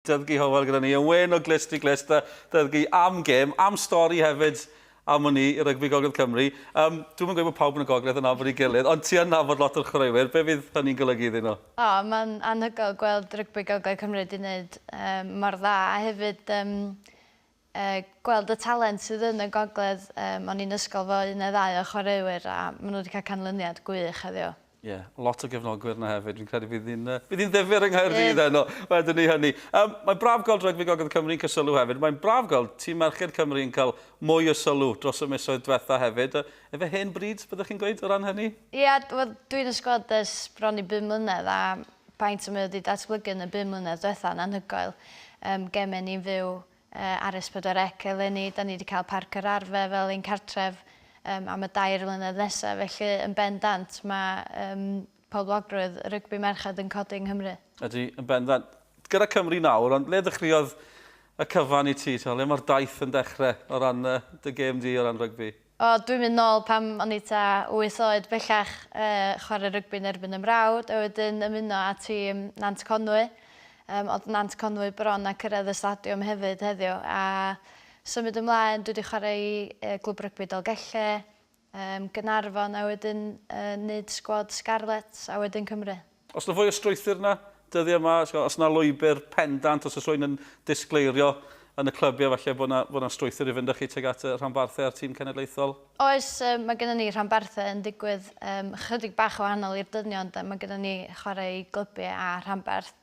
Dysgu hywel gyda ni yn wên o glust i glust a dysgu am gêm, am stori hefyd am wn i i rygbi Gogledd Cymru. Um, dwi'm yn gweud bod pawb yn y Gogledd yn nabod ei gilydd, ond ti yn nabod lot o'r chwaraewyr. Be fydd hynny'n golygu iddyn nhw? O, mae'n anhygoel gweld rygbi Gogledd Cymru wedi wneud um, mor dda a hefyd um, a gweld y talent sydd yn y gogledd yym o'n i'n ysgol fo un neu ddau o chwaraewyr a ma' nhw wedi cael canlyniad gwych heddiw. Ie, lot o gefnogwyr 'na hefyd, fi'n credu bydd hi'n yy bydd hi'n ddifyr yng Nghaerdydd heno, wedwn i hynny. Yym, mae'n braf gweld Rygbi Gogledd Cymru'n cael sylw hefyd, mae'n braf gweld tîm merched Cymru yn cael mwy o sylw dros y misoedd diwetha' hefyd. Yy, efe hen bryd, byddwch chi'n gweud, o ran hynny? Ie, wel, dwi yn y sgwad ers bron i bum mlynedd a faint mae o wedi datblygu yn y bum mlynedd diwetha' yn anhygoel. Yym, geme ni'n fyw Ar S4C eleni, 'da ni 'di cael Parc yr Arfe fel ein cartref am y dair mlynedd nesaf, felly yn bendant mae poblogrwydd rygbi merched yn codi yng Nghymru. Ydy, yn bendant. Gyda Cymru nawr, ond ble ddechreuodd y cyfan i ti? Lle mae'r daith yn dechrau o ran dy gêm di o ran rygbi? O, dwi'n mynd nôl pan o'n i tua wyth oed bellach, chwarae rygbi yn erbyn 'y mrawd, a wedyn ymuno â tîm Nant Conwy. Yym, o'dd Nant Conwy bron â cyrraedd y stadiwm hefyd heddiw, a symud ymlaen dwi 'di chwarae i Glwb Rygbi Dolgellau, yym, Gaernarfon a wedyn yn neud sgwad Scarlets a wedyn Cymru. Os na fwy o strwythur na dyddiau yma, os na lwybr pendant, os oes rhywun yn disgleirio yn y clybiau falle bod na, bod na strwythur i fynd â chi tuag at y rhanbarthau a'r tîm cenedlaethol? Oes, mae gennym ni rhanbarthau yn digwydd um, chydig bach o wahanol i'r dynion, de. mae gennym ni chwarae i glybiau a rhanbarth,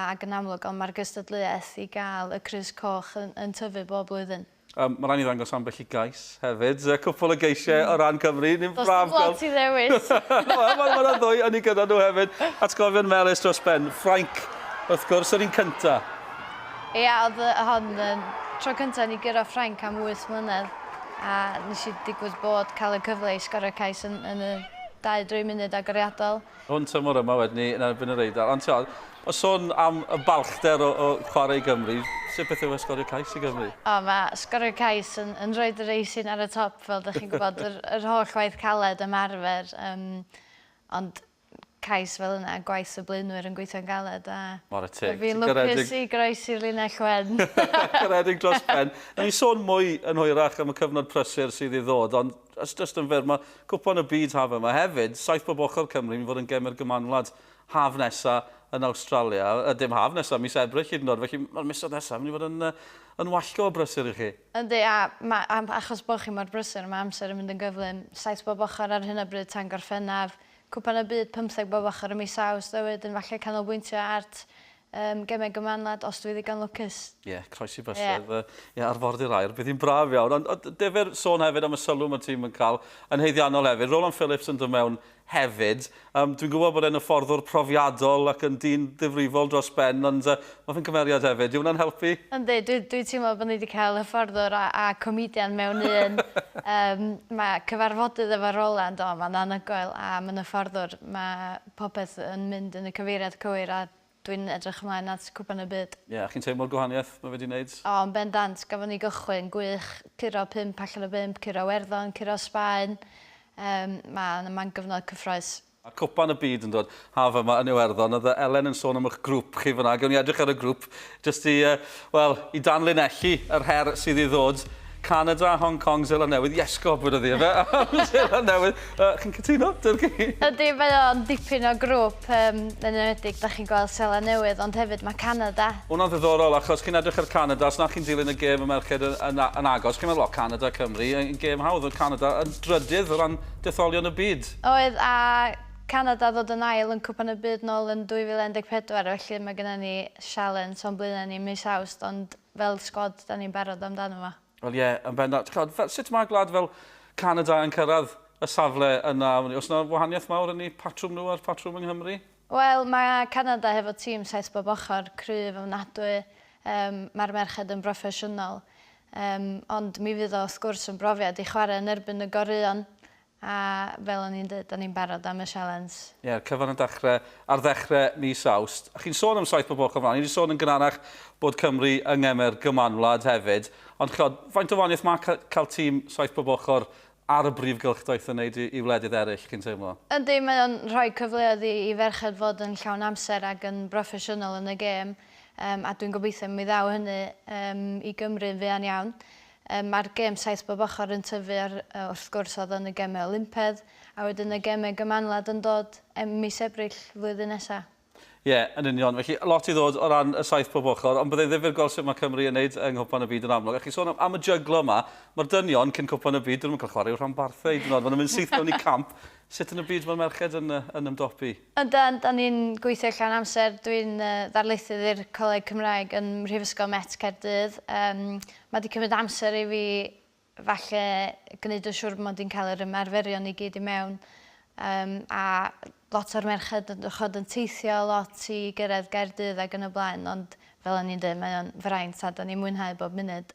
ac yn amlwg ond mae'r gystadleuaeth i gael y crys coch yn, yn tyfu bob blwyddyn. Um, mae rhaid ni ddangos ambell i gais hefyd. Y cwpl o geisiau mm. o ran Cymru. Ni'n Dos braf gweld ti ddewis. Mae'n ma, ma ddwy yn ei gyda nhw hefyd. Atgofion melus dros ben. Ffrainc, wrth gwrs, yr un cynta. Ie, yeah, oedd y hon yn tro cynta ni gyrra Ffrainc am 8 mlynedd. A nes i digwydd bod cael y cyfle i sgorio cais yn, yn y 2-3 munud agoriadol. Hwn tymor yma wedyn ni yn erbyn yr Eidal. Ond tiod, o sôn am y balchder o, o chwarae i Gymru, sut beth yw e sgorio cais i Gymru? O, mae sgorio cais yn, yn rhoi yr eisin ar y top, fel dych chi'n gwybod, yr, yr holl waith caled ymarfer. Um, ond cais fel yna, gwaith y blaenwyr yn gweithio'n galed a... Mor teg. Fi'n lwcus i groesi'r linell wen. Garedig dros ben. Nawn ni sôn mwy yn hwyrach am y cyfnod prysur sydd i ddod, ond Os jyst yn fyr, mae Cwpan y Byd haf yma hefyd, saith bob ochr Cymru, mynd fod yn gem i'r Gymanwlad haf nesa yn Awstralia. Yy, dim haf nesa, mis Ebrill hyd yn o'd, felly mae'r misoedd nesa mynd i fod yn, yy, yn wallgo o brysur i chi. Yndi, a mae, a achos bod chi mor brysur, mae amser yn mynd yn gyflym. Saith bob ochr ar hyn o bryd tan Gorffennaf. Cwpan y Byd pymtheg bob ochr ym mis Awst, a wedyn falle canolbwyntio at Yym gemau gymanwlad os dwi ddigon lwcus. Ie, croesi bysedd. Ie. Yy ie, arfordir aer. Bydd hi'n braf iawn. Ond ond defer sôn hefyd am y sylw mae tîm yn cael yn haeddiannol hefyd. Roland Phillips yn dod mewn hefyd. Um, dwi'n gwybod bod e'n hyfforddwr profiadol ac yn dyn ddifrifol dros ben, ond uh, mae fe'n cymeriad hefyd. Yw hwnna'n helpu? Yndi, dwi, dwi teimlo bod ni wedi cael hyfforddwr a, a comedian mewn un. um, mae cyfarfodydd efo Roland, o, mae'n anhygoel, a mae'n hyfforddwr. Mae popeth yn mynd yn y cyfeiriad cywir a dwi'n edrych ymlaen at Cwpan y Byd. Ie, a chi'n teimlo'r gwahaniaeth mae wedi neud? O, yn bendant, gafon ni gychwyn gwych, curo pump allan o bump, curo Iwerddon, curo Sbaen, yym ma' na man gyfnod cyffrous. A Cwpan y Byd yn dod haf yma yn Iwerddon, o'dd yy Elen yn sôn am 'ych grŵp chi fan'na, gewn ni edrych ar y grŵp Jyst i, uh, wel, i danlinellu yr her sydd i ddod, Canada, Hong Kong, Zeland Newydd, yes, gobr ydi efe, Zeland Newydd, uh, chi'n cytuno, Dirgi? Ydy, mae o'n dipyn o grwp, um, yn enwedig, da chi'n gweld Zeland Newydd, ond hefyd mae Canada. Hwna'n ddiddorol, achos chi'n edrych ar Canada, os na chi'n dilyn y gêm y merched yn, yn, yn agos, chi'n meddwl, o, Canada, Cymru, yn gêm hawdd, o Canada, yn drydydd o ran detholion y byd. Oedd, a Canada ddod yn ail yn Cwpan y Byd nôl yn 2014 felly mae genna ni sialens o'n blaena ni mis Awst ond fel sgwad dan ni'n barod amdano fo. Wel ie, yn bendant. Chimod, fel, sut mae gwlad fel Canada yn cyrraedd y safle yna? Oes yna wahaniaeth mawr yn eu patrwm nhw a'r patrwm yng Nghymru? Wel, mae Canada hefo tîm saith bob ochr, cryf ofnadwy, yym, mae'r merched yn broffesiynol, yym, ond mi fydd o wrth gwrs yn brofiad i chwarae yn erbyn y goreuon, A fel o'n i'n deud, o'n i'n barod am y sialens. Ie, yr cyfan yn dachre ar ddechre mis Awst. A chi'n sôn am saith bob ochr mlan. Ni 'di sôn yn gynharach bod Cymru yng ngeme'r gymanwlad hefyd. Ond ch'od, faint o wanieth ma' ca- cael tîm saith bob ochr ar y brif gylchdaith yn neud i i wledydd eryll, chi'n teimlo? Yndi, mae o'n rhoi cyfleoedd i i ferched fod yn llawn amser ag yn broffesiynol yn y gêm. Yym a dwi'n gobeithio mi ddaw hynny yym i Gymru'n fuan iawn. Yym ma'r gêm saith bob ochor yn tyfu ar yy wrth gwrs odd yn y geme Olympedd a wedyn y geme Gymanwlad yn dod em- mis Ebrill flwyddyn nesa. Ie, yn union. Felly, lot i ddod o ran y saith bob ochr, ond byddai ddifyr gweld sut mae Cymru yn wneud yng Nghwpan y Byd yn amlwg. A chi sôn am, am y jyglo yma, mae'r dynion cyn Cwpan y Byd, dyn nhw'n cael chwarae i'w rhanbarthau hyd yn oed, maen nhw'n mynd syth mewn i camp. Sut yn y byd mae'r merched yn, yn ymdopi? Ydan, da ni'n gweithio llawn amser. Dwi'n uh, ddarlithydd i'r Coleg Cymraeg yn Mhrifysgol Met Caerdydd. Um, Mae 'di cymryd amser i fi falle gwneud yn siŵr mod i'n cael yr ymarferion i gyd i mewn yym a lot o'r merched yn dych ch'od yn teithio lot i gyrraedd Gaerdydd ag yn y blaen ond fel o'n i'n deud mae o'n fraint a 'dan ni'n mwynhau bob munud.